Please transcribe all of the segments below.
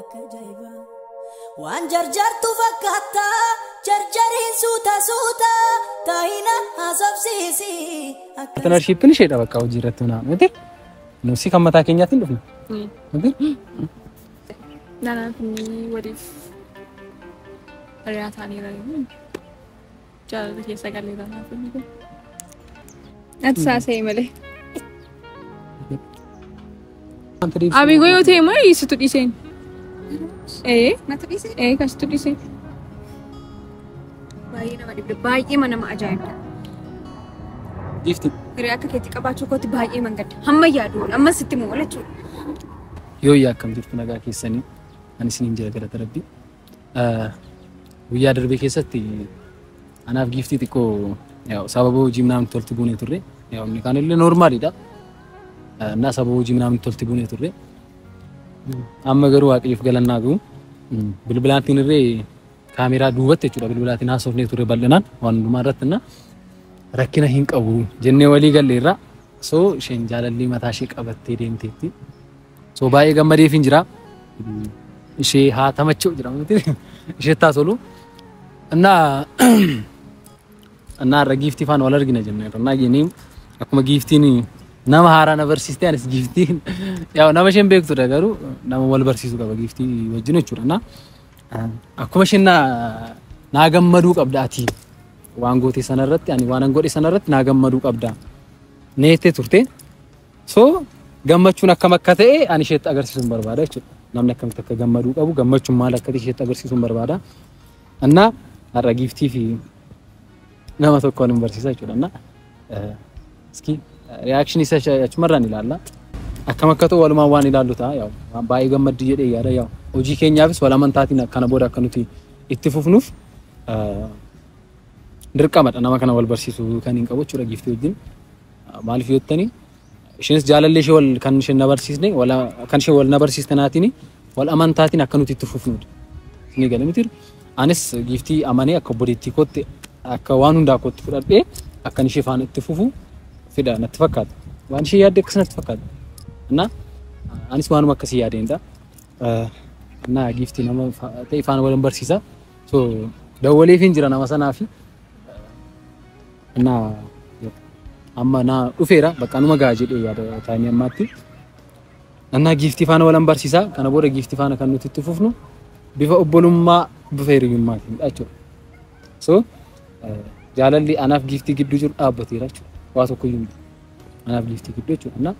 Akka ajaa'iba. Waan jarjartu fakkaatta jarjariin suuta suuta taahina haasofsiisi. Akka Paartinarshiippiin isheedha bakka hojii irratti hundaa'an miti. Nuusi kan mataa keenyaatiin dhufne. Miti? Naannoo waliif hiriyaa ta'anii jiranii. Jaalala kee sagalee irraa naaf hin hiikin. Ati saasa'e malee. Abigo yoo ta'e immoo situ dhiiseen. Ee Natu dhiise ee kan situ dhiiseen. baay'ee nama dhibde baay'ee nama ajaa'ibda. Giifti Hiree akka keetti qabaachuu kootti baay'ee mangadda. Hamma yaadu amma sitti moo jechuudha. yoo yaa akkam jirtu nagaa keessanii ani isin hin jira galata rabbi Guyyaa darbee keessatti anaaf giiftii xiqqoo sababa hojii namatti tolti buunee turre. Inni kaan illee noormaalidha. Innaa sababa hojii namatti tolti buunee turre. Amma garuu waaqayyoof galannaa gahu. Bilbilaatiin irree kaameeraa duubatti jechuudha bilbilaatiin haasofnee turre bal'inaan waan hundumaa irratti innaa rakkina hin qabu jennee walii galleerra. So isheen jaalallii mataa ishee qabattee deemteetti. So baay'ee gammadeefin jira. Ishee haa tamachoo jira miti. Ishee taa tolu. Annaa annaa irra giiftii faana wal argina jenna. Annaa geenii akkuma giiftiin nama haaraa na barsiiste anis giiftiin yaa nama isheen beektudha garuu nama wal barsiisu qaba giiftii wajjin jechuudha. Annaa akkuma isheen naa naa gammaduu qabda ati waan gootee sanarratti ani waan an godhe sanarratti naa gammaduu qabda. Neettee turte. So gammachuun akkam akka ta'e ani isheetti agarsiisuun barbaada jechuudha. Namni akkamitti akka gammaduu qabu gammachuun maal akka ta'e isheetti agarsiisuun barbaada. Annaa har'a giiftii fi nama tokkoon hin barsiisa jechuudha. Annaa iski reaction isa achumarraan ilaalla. Akkam akka ta'u walumaan waan ilaallu ta'a. Yaa'u baay'ee gammaddi jedhee yaada. Yaa'u hojii keenyaafis wal amantaatiin kana booda akka nuti itti fufnuuf dirqamadha nama kana wal barsiisuu kan hin qabu jechuudha giiftii wajjin. Maaliif yoo jettanii isheenis jaalallee ishee wal kan isheen na barsiisne wal kan ishee wal na barsiiste naatiin wal amantaatiin akka nuti itti fufnuudha. Isinii galee miti anis giiftii amanee akka obboleettii kootti akka waan hundaa kootti fudhadhee akkan ishee faana itti fufu fedha natti fakkaata. Waan ishee yaadde akkas natti fakkaata. Innaa anis waanuma akkasii yaadeenidha. Innaa giiftii nama fa- ta'e faana wal hin barsiisa. So dawwaleefiin jira nama sanaa fi na amma na dhufeera bakka numa gahaa jedhee yaada taa'anii ammaatti. Annaa giiftii faana walan barsiisaa kana booda giiftii faana kan nuti itti fufnu bifa obbolummaa bifa hiriyummaatiin jechuudha. So jaalalli anaaf giiftii gidduu jiru dhaabbateera jechuudha. Waa tokko iyyuu miti. Anaaf giiftii gidduu jechuudha.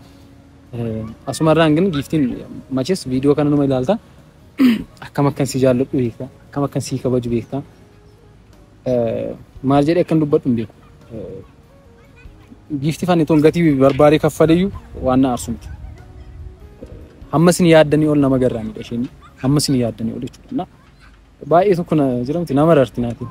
Asumarraan gin giiftiin machees viidiyoo kana numa ilaalta. akkam akkan si jaalladhu beekta akkam akkan si kabaju beekta maal jedhee akkan dubbadhu hin beeku giifti fanni toon gatii barbaadee kaffaleyyuu waan na aarsu miti hamma isin yaaddanii ol nama garraamidha isheen hamma isin yaaddanii ol jechuudha baay'ee tokko na jiramti nama rarti naatiin.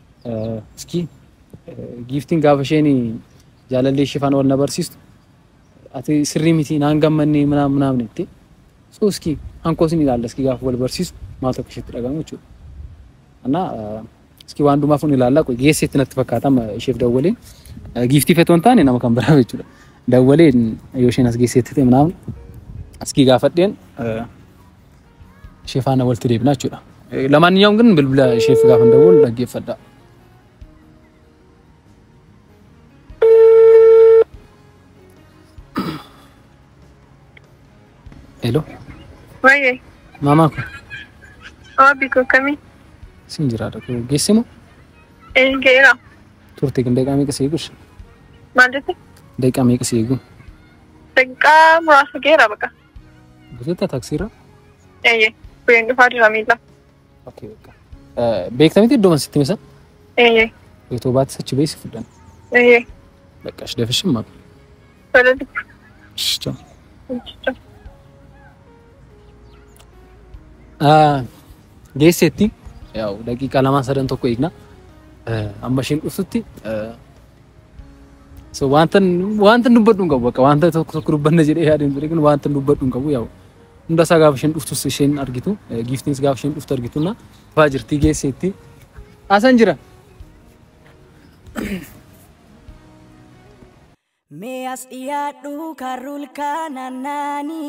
Iskii giiftiin gaafa isheen jaalallee ishee faana wal na barsiistu ati sirrii miti naan gammannee minaan minaamne itti so iskii hankoos ni ilaalla iskii gaafa wal barsiisu maal tokko isheetti dhaga'amu jechuudha. Annaa iskii waan dhumaaf ni ilaalla qoy geesseetti natti fakkaata amma isheef dawwalee giiftii feetoo hin taane nama kan biraa jechuudha. Dawwalee yoo isheen as geesseetti ta'e minaamne iskii gaafadheen ishee faana walitti deebina jechuudha. Lamaaniyyaawwan kan bilbila isheef gaafa dawwal dhaggeeffadha. Hello. Waayee. Maamaa ko. Waabii ko kamii. Siin jiraadha ko geesse moo? Ee geera. Turte kan daqiiqaa meeqa si eegus? Maal jette? Daqiiqaa meeqa si eegu? Daqiiqaa muraasa geera baqa. Buteetta taksiirra? Eeyyee. Bu'een dhufaa jira miila. Okee bakka. Beektamitti iddoo mansitti misa? Eeyyee. Otoo baattis achi beessi fudhan. Eeyyee. Bakka shi dafishin maaf. Tola dubbi. Shicha. Shicha. Geesseetti. Yaa'u daqiiqaa lamaa sadan tokko eegna. Amma isheen dhuftutti So wanta wanta dubbadhu hin qabu bakka wanta tokko tokko dubbanna jedhee yaadee hin ture kun wanta dubbadhu hin qabu yaa'u. Hunda isaa gaafa isheen dhuftus isheen argitu giiftiinis gaafa isheen dhuftu argitu na faa jirtii geesseetti. Asan jira. Mee as dhiyaadhu karruul kaanaannaani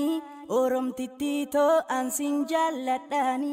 Oromtittii too ansin jaalladhaani.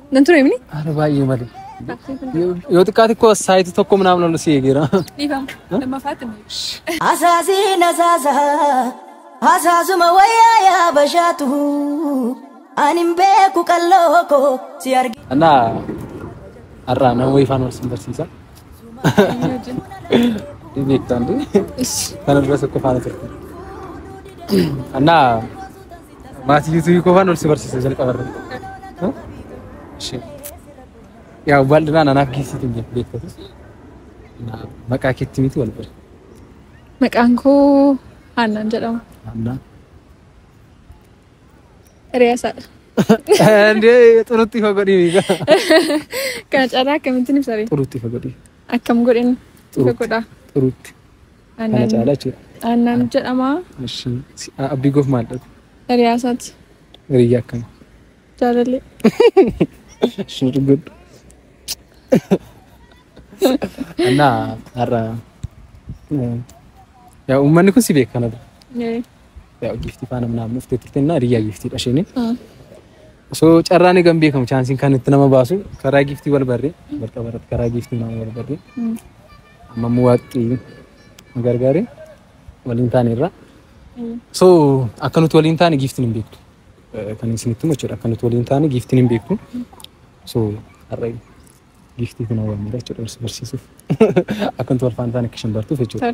Nan ture mini? Haala baay'ee malee. Yoo xiqqaa xiqqoo saayitii tokko minaan ol si eegeera. Dhiifama. Lammaffaatti nu ibsi. Asaasiin asaasa asaasuma wayyaa yaa bashaatu ani hin beeku qalloo koo si arge. Anaa har'aa nama wayifaan wal sin barsiisa. Beektaan kana dura tokko faana turte. Annaa maatii yuutuubii koo faana ol si barsiisa jalqaba irratti. Yaa bal'inaan anaaf geessiitu hin jettu beektatu. Maqaa keetti miti wal bira. Maqaan koo Haannaan jedhama. Annaa. Riyaasaadha. Ndee xurutti ifa godhii miiga. Kana caalaa akkamittiin ibsa ree? Xurutti ifa godhii. Akkam godhin ifa godhaa. Xurutti. Kana Aannan caalaa jechuudha. aannan jedhama. Ishi. Si- a- Abdii goof maal dhabu? Riyaasaati. Hiriyyaa akkana. Jaalallee. Ishi nu dhuggadhu. Annaa har'a. eh, Yaa uummanni kun si beekanadha. Ee. Yaa'u giiftii faana minaan dhuftee turte innaa hiriyyaa giiftii dhasheen. Osoo carraan eegan beekamu chaansiin kan itti nama baasu karaa giiftii wal barree wal qabarratti karaa giiftii nama wal barree amma immoo waaqni nu gargaaree waliin taane irraa. So akka nuti waliin taane giiftiin hin beektu. Kan isinitti himu jechuudha akka nuti waliin taane giiftiin hin beektu. So har'a giiftii kana waamneera jechuudha barsiisuuf akka nuti wal faana taane akka isheen bartuuf jechuudha.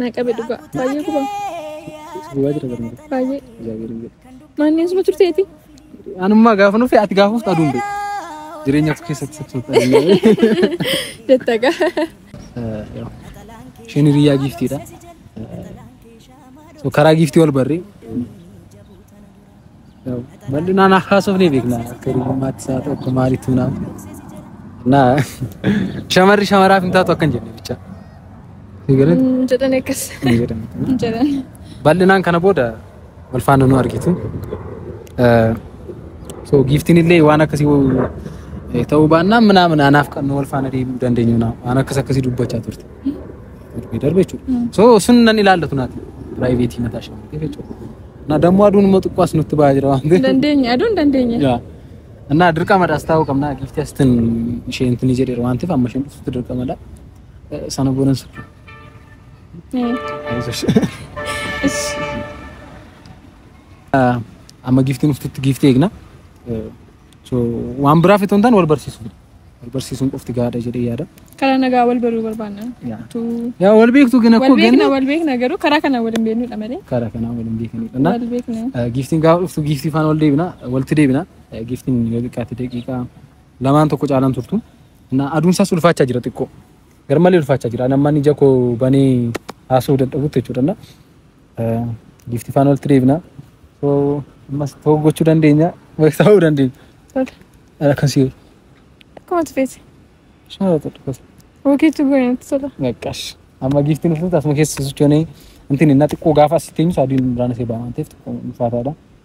Na qabe dhugaa. Baay'ee gubaa. Gubaa jira barnoota. Baay'ee. Jaabirin jedhe. Maanni asuma turteeti. Anummaa gaafa nuuf ati gaafuuf aduun bee. Jireenya of keessatti sabsoota. Jetta gaa. Isheen hiriyaa giiftiidha. So karaa giiftii wal barree Bal'inaan haasofnee ni beekna akka hiriyummaatti isaa ta'u akka maaliitu naaf. Na shamarri shamaraaf hin taatu akkan jenne bicha. Sigaret Hin jedhan akkas. hin jedhamu. Hin jedhan. Bal'inaan kana booda wal faana nu argitu. Eh, So giiftiin illee waan akkasii wo- eh, ta'uu baannaan minaamin anaaf kan wal faana deemuu dandeenyu naa waan akkas akkasii dubbachaa turte. Darbee darbe jechuudha. So sun nan ilaallatu naati. Piraayiveetii mataa shamarree jechuudha. Na dammoo aduun immoo xiqqoo as nutti ba'aa jira waan ta'eef. Dandeenye aduun dandeenye. Yaa. Annaa dirqamadha as taa'uu qabna. Giifti astin ishee intini jedheera waan ta'eef amma isheen dhuftutti dirqamadha. Eh, Sana boodan sirri. Amma giiftiin dhuftutti giiftii eegna. Eh, So waan biraaf itoo hin taane wal barsiisuuf. Wal barsiisuun qofti gahaadha jedhee yaada. Karaa nagaa wal baruu barbaanna. Yaa. Tu. Yaa wal beektu gina Wal koo beekna ganna. wal beekna garuu karaa kana wal hin beeknudha malee. Karaa kanaa wal hin beekanidha. Na- Wal beekna. Eh, Giiftiin gaafa dhuftu giiftii faana wal deebina walitti deebina Eh, giiftiin yoo xiqqaate daqiiqaa lamaan tokko caalaan turtu na aduun isaas ulfaachaa jira xiqqoo garmalee ulfaachaa jira namni ija koo banee haasa'uu dadhabutti jechuudha na Giifti faana walitti deebina. So ammas ta'uu gochuu dandeenya. Beeksisa ta'uu dandeenya. Tole. Ala kan si'u. Akkuma ati feete. Shaa ta'u dhukkasa. Hokiitu goone itti tola. Naqqash. Amma giiftiin dhuftutti asuma keessa sochoonee wanti inni xiqqoo gaafa asitti eenyu saadiin biraan asee ba'aa waan ta'eef xiqqoo ulfaataadha.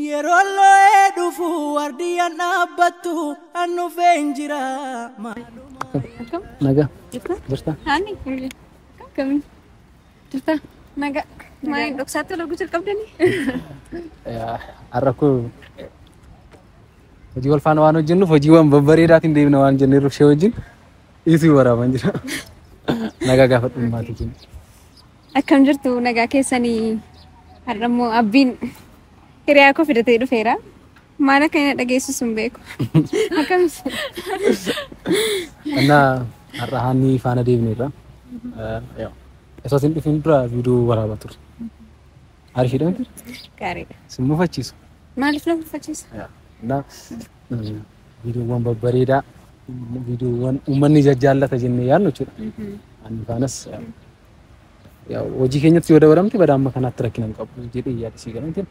Yeroon loo'ee dhufu wardiyyaan dhaabbattu an dhufeen jira. Akkam? Akkam? Nagaa? Jirta? Jirta? Haani? Akkami? Jirta? Nagaa. Maaliin dhoksaatti loguu jalqabdanii? Har'a koo hojii wal faana waan hojjennuuf hojiiwwan babbareedaatiin deemna waan jenneef ishee wajjin dhiisuu waraaban jira. Nagaa gaafadhu maatii keenya. Akkam jirtu nagaa keessanii har'a immoo abbiin hiriyaa koo fidatee dhufeera. Maal akka inni dhageessisu hin beeku. Akkamis Annaa har'a haannii faana deemneerra. Osoo isin dhufin dura viidiyoo waraabaa turre. Ariifidha miti? gaariidha. Isin mufachiisu. Maaliif na mufachiisa? Annaa viidiyoowwan babbareedaa viidiyoowwan uummanni jajjaallata jennee yaadnu jechuudha. Haannii faanas hojii keenyatti yoo dabalamte badaa amma kanaatti rakkina hin qabu jedhee yaada sii galantiin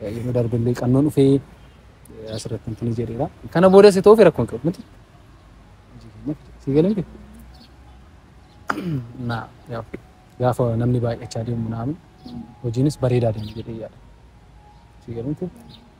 yeroo darbe illee qannoon dhufee asirratti hin tuni jedheera. Kana booda si ta'uuf rakkoo hin qabu miti. Sii galantiin. Naa gaafa namni baay'achaa deemu naamu hojiinis bareedaa deema jedhee yaada. Sii galantiin.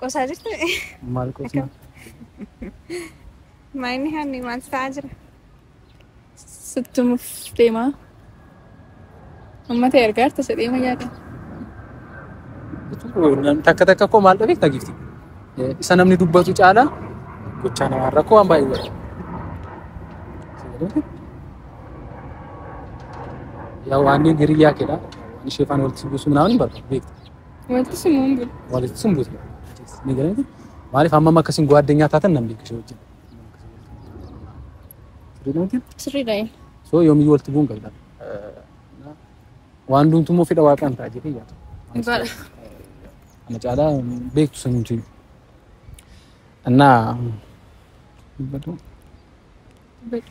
Qosaa jirtu Maal qosna? akkam maayinni hanni maal ta'aa jira? Sittumuuf deemaa. Uummata ergaa harta sadhee mayyaa qaba. Takka takka koo maal dhabeef dhageefti. Isa namni dubbatu caalaa gochaa namaa rakkoo waan baay'ee godha. Yaa waan inni hiriyyaa keedha. Waan ishee faana walitti buusuu naaf hin barbaadu beektu. Wanti sun hin bulu. Walitti sun buutu. Ni galanii maaliif amma amma akkasiin gowaa addunyaa taatan nan beeku ishee wajjin. Sirriidhaanti Sirriidha inni. soo yoomiyyuu walitti bu'uun qabda. Waan duuntu immoo fedha waaqaan ta'a jedhee yaada. Dhugaadha. Ana caalaa beektu sun hin jiru. Annaa dubbadhu. Dubbadhu.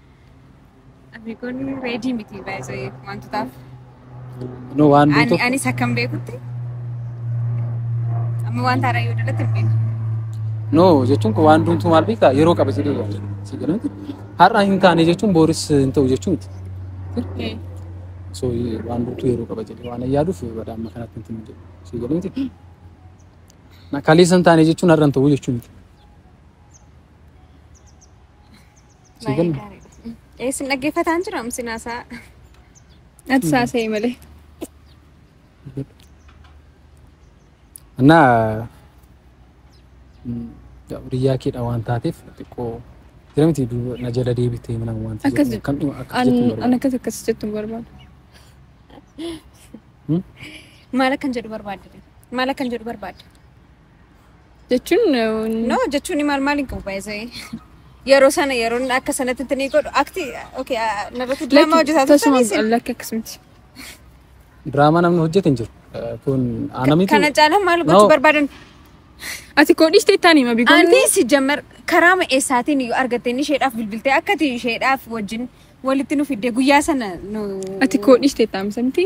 Abbi kun reedii miti baay'ee wantootaaf. No waan Ani beektu anis akkam beekutti amma wanta haaraa yoo dalatti hin beeku. no jechuun kun waan duutu maal beektaa yeroo qaba jedhee yaada. Si galatti har'a hin taane jechuun booris hin ta'u jechuun miti. Okay. So waan duutu yeroo qaba jedhee waan yaaduuf badaa amma kanatti hin tinu jedhu. Si galatti kaleessa hin taane jechuun har'a hin ta'u jechuun miti. Sii Baay'ee galle? gaariidha. Mm. Ee, Isin dhaggeeffataan jira isin haasaa. Ati saasa'e malee. እና hiriyaa keedha waan taateef xiqqoo jira miti duuba na jala deebitee mana waan ta'eef Akkas jedhu. kan dhuma akkas An jettu an barbaada. akkas akkas jettu hin barbaadu. Maal akkan jedhu barbaadde? Maal akkan jedhu barbaadde? Jechuun No jechuun ni maal maal hin qabu baay'ee. Yeroo sana yeroo inni akka sanatti itti ni godhu. Akti okay narratti diraamaa hojjetaa turtan tasumaan isin. lakki akkasumti. Diraamaa namni hojjete hin jiru. Eh, Kun ana miti. Kana caalaa maal No. gochuu barbaadan? Ati koo dhiistee taanii mabii Ani goonte. si jammar karaama eessaatiin iyyuu argattee inni isheedhaaf bilbiltee akkati isheedhaaf wajjin walitti nu fiddee guyyaa sana nu. Ati koo dhiistee taamisa miti.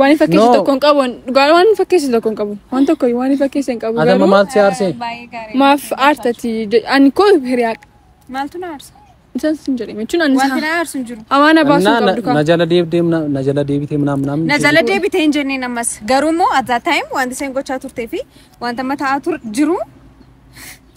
Waan hin fakkeessu No. tokko hin qabu. Dhugaa waan hin fakkeessu tokko hin qabu. Waan tokko waan hin fakkeessu hin qabu. Adama garuu maal si aarsee? Baay'ee gaarii. Maaf aartati? je- Ani koo hiriyaa. Maaltu na aarsa? Isaan sin jedhame jechuun ani Wanti na aarsu hin jiru. amaana baasuu Naa- qabdu na- na kaa. jala deebdee mna- na jala deebitee mnaam mnaam. Na jala deebitee hin jenneen ammas. Garuu immoo at that time wanti isheen gochaa turtee fi wanta amma ta'aa tur jiru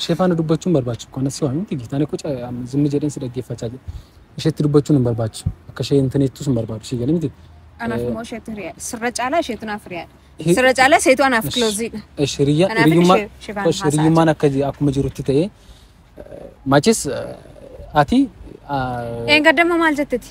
ishee faana dubbachuun barbaachisu kan asii waan miti gitaan akka zimmi jedheen si dhaggeeffachaa jira isheetti dubbachuun hin barbaachisu akka ishee hin taneettus hin barbaachisu ishee galee miti. Anaaf immoo isheetu hiriyaadha. Sirra caalaa isheetu naaf hiriyaadha. Sirra caalaa isheetu anaaf kilooziidha. Hiriyyummaan akka akkuma jirutti ta'ee machis ati. Eengaddamma maal jetteti?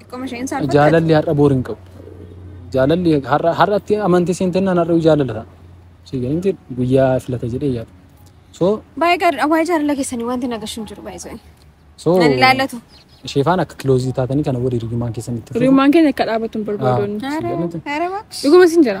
Xiqqoma isheen saalfatte. Jaalalli har'a boor hin qabu. Jaalalli har'a har'atti amantii seentennaan har'a jaalala ta'a. Si gahinti guyyaa filata jedhee yaada. So Baay'ee gaariidha. Waa'ee jaalala keessanii wanti nagashu hin jiru baay'ee isaanii. so Nan ilaallatu. isheefaan akka kiloozii taatanii kana wal hiriyummaan keessan itti fufu. Hiriyummaan keenya akka dhaabatu hin barbaadonni. Ah. Haara Jaalatu. haara baakshi. Dhuguma sin jira.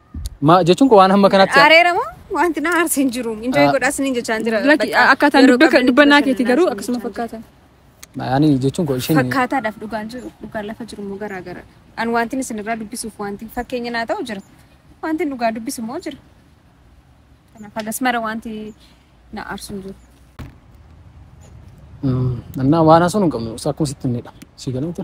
Ma jechuun koo waan hamma kanatti Areera moo wanti na aarse hin jiru. Injoo Ah. godhaa siniin jechaan jira. Lakki Bakka akkaataan yeroo dubbe- qabdan dubbannaa itti keetii garuu bashannanaa akkasuma fakkaata. ani jechuun koo isheen Fakkaataadhaaf dhugaan jiru dhugaan lafa jiru immoo garaa gara. An wanti isinirraa dubbisuuf wanti fakkeenya naa ta'u jira. Wanti dhugaa dubbisu immoo jira. Kanaaf hagas mara wanti na aarsu hin jiru. Mm, annaa waan haasoo hin qabnu akkuma sitti himnedha. Si galuuta.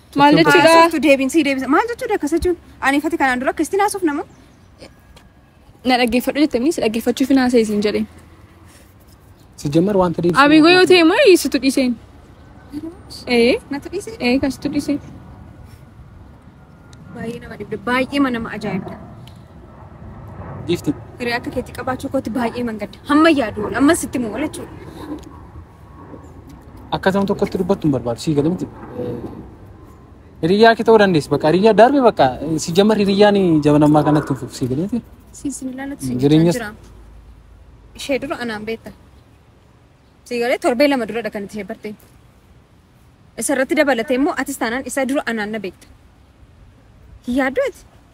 Maal jechuudha? Haasoftu deebiin sii deebisa. Maal jechuudha akkas jechuun? Ani fati kanaan dura akkasitti naasuuf nama. Na dhaggeeffadhu jettamni si dhaggeeffachuuf hin haasa'e siin jedhe. Sijjamar wanta deebisu. Abigo yoo ta'e immoo dhiisitu dhiiseen. Ee Natti dhiisee ee kasitu dhiisee. baay'ee nama dhibde baay'ee nama ajaa'ibda. Giifti. Hiree akka keetti qabaachuu kootti baay'ee mangadda. Hamma yaadu ammas itti moo jechuudha. Akka ta'u tokkotti dubbattu hin barbaadu. Sii galee miti. Hiriyyaa kee ta'uu dandeessi. Bakka hiriyyaa darbe bakka si jamar hiriyyaan jabanammaa kanatti hin fufu. Sii galee miti. Siisin ilaalatti si Jireenyas- jechaa jira. Ishee dura anaan beekta. Sii galee torbee lama duradha kan itti ishee bartee. Isarratti dabalatee immoo atis taanaan isa dura anaan na beekta. Hin yaaddu ati?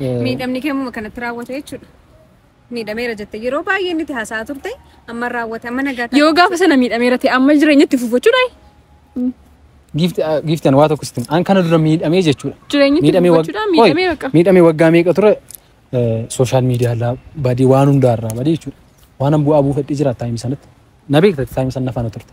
Eh, Miidhamni kee muma kanatti raawwate jechuudha. Miidhameera jette yeroo baay'ee inni itti haasa'aa turte amma raawwate amma nagaa taate. Yoo gaafa sana miidhameera ta'e amma jireenya itti fufachuudha. Giifti ah, giifti ani waa tokko sitti hima. an kana dura miidhamee jechuudha. Jireenya itti Miidhamee wag- fufachuudha. Qoy, Miidhamee bakka. miidhamee waggaa meeqa ture sooshaal miidiyaa irraa badii waan hundaa irraa badii jechuudha. Waan an bu'aa buufadhee jira taayim sanatti. Na beekta taayim sana faana turte.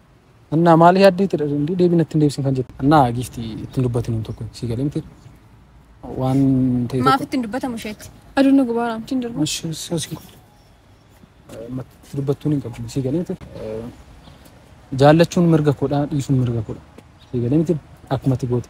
Annaa maali yaaddee itti dhadhindii deebii natti hin deebisin kan jette. Annaa giifti ittiin dubbatin hin tokko si galee miti. Waan ta'e tokko. Maaf ittiin dubbatamu isheetti. Aduun gubaa raamtiin darbu. Ishee soosii dubbattuun hin qabdu si galee miti. Jaallachuun mirga koodha dhiisuun mirga koodha. Si galee miti akkumatti goote.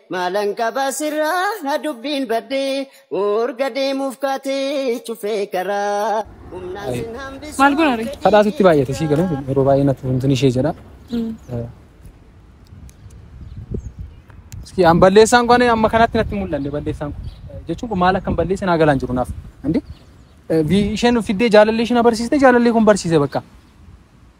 Maalan qaba sirraa dubbiin baddee urga deemuuf kaatee cufee karaa humnaan Ayi. sin Maal hambisuu goonare? fedhii Kadhaa sitti kee baay'ate sii galu sirraa. yeroo baay'ee natti funtun ishee jedha. Eh, Iski an balleessaan kun amma kanatti natti hin mul'anne balleessaan kun. Eh, Jechuun kun maal akkan balleesse naa galaan jiru naaf. Andi isheen fiddee jaalallee isheen abarsiiste jaalallee kun barsiise bakka.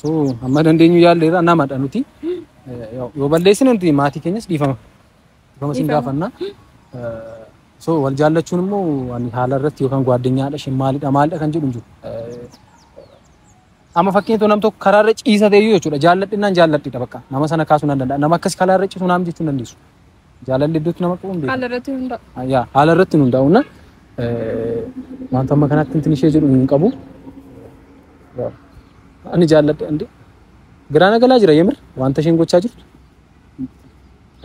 So amma dandeenyu yaalleerra namadha nuti. Eh, yoo yoo balleessine nuti maatii keenyas dhiifama. Dhiifama isin Dhiifama. gaafanna. Eh, So wal jaallachuun immoo waan haala irratti yookaan gwaaddenyaadha isheen maalidha maalidha kan jedhu hin jiru. Eh, Amma fakkeenya tokko nam tokko karaa irra ciisa ta'e iyyuu jechuudha jaalladhinnaan jaalladhidha bakka nama sana kaasuu nan danda'a. Nama akkas karaa irra ciisu naam jechuu hin dandeessu. Jaalalli iddootti nama qabu hin beeku. Haala irratti hundaa'u. Yaa haala irratti hin hundaa'u na wanta amma kanatti intin ishee jedhu hin qabu. Ani jaalladha andi garaa na galaa jira yemir wanta isheen gochaa jirtu.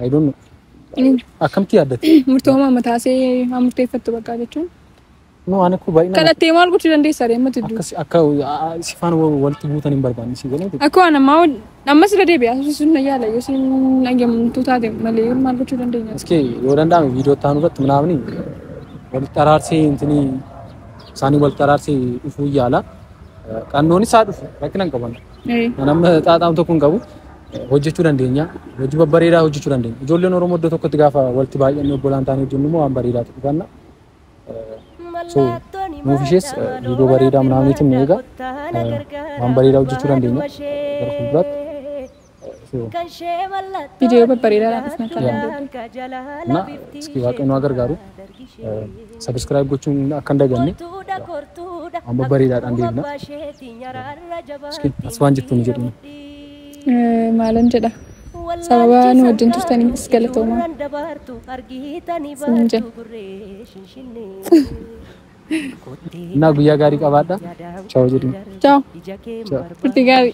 I don't know. Akkamitti yaaddatti? Murtoo maama taasee haa murteeffattu bakka jechuun. No ani ko baay'ina Kana ta'e maal gochuu dandeessa ree mati duu. akkasi akka sifaan walitti buutan hin barbaanne si galee Akka waan ammaa ol ammas irra deebi'aa sun na yaala yoo siin dhageemtu taate malee maal gochuu dandeenya. እስኪ yoo danda'ame viidiyoo itti aanu irratti manaafni walitti araarsee intini isaanii walitti araarsee dhufuu yaala. Qannoon isaa dhufu rakkina hin qaban. Ee. Kan amma xaaxaam tokko hin qabu hojjechuu dandeenya. Hojii babbareedaa hojjechuu dandeenya. Ijoolleen Oromoo iddoo tokkotti gaafa walitti baay'annee obbolaan taanee hojjennu immoo waan bareedaatu dhufanna. So, nuuf ishees viidiyoo bareedaa manaamiitiin ni eega. Waan bareedaa hojjechuu dandeenya gara fuulduraatti. So, Viidiyoo babbareedaadhaan dhufna kan Yeah. dandeenyu. na iski waaqayyo nu haa gargaaru. Sabiskiraayib gochuun akka hin daganne waan babbareedaadhaan deemna. Iski as waan jettu nu jedhina. maalan jedha sababa nu wajjin turtaniifis galatoomaa isinin jedha. Innaa guyyaa gaarii qabaadha. Chaaw jedhiin. Chaaw. Chaaw. Turtii gaarii.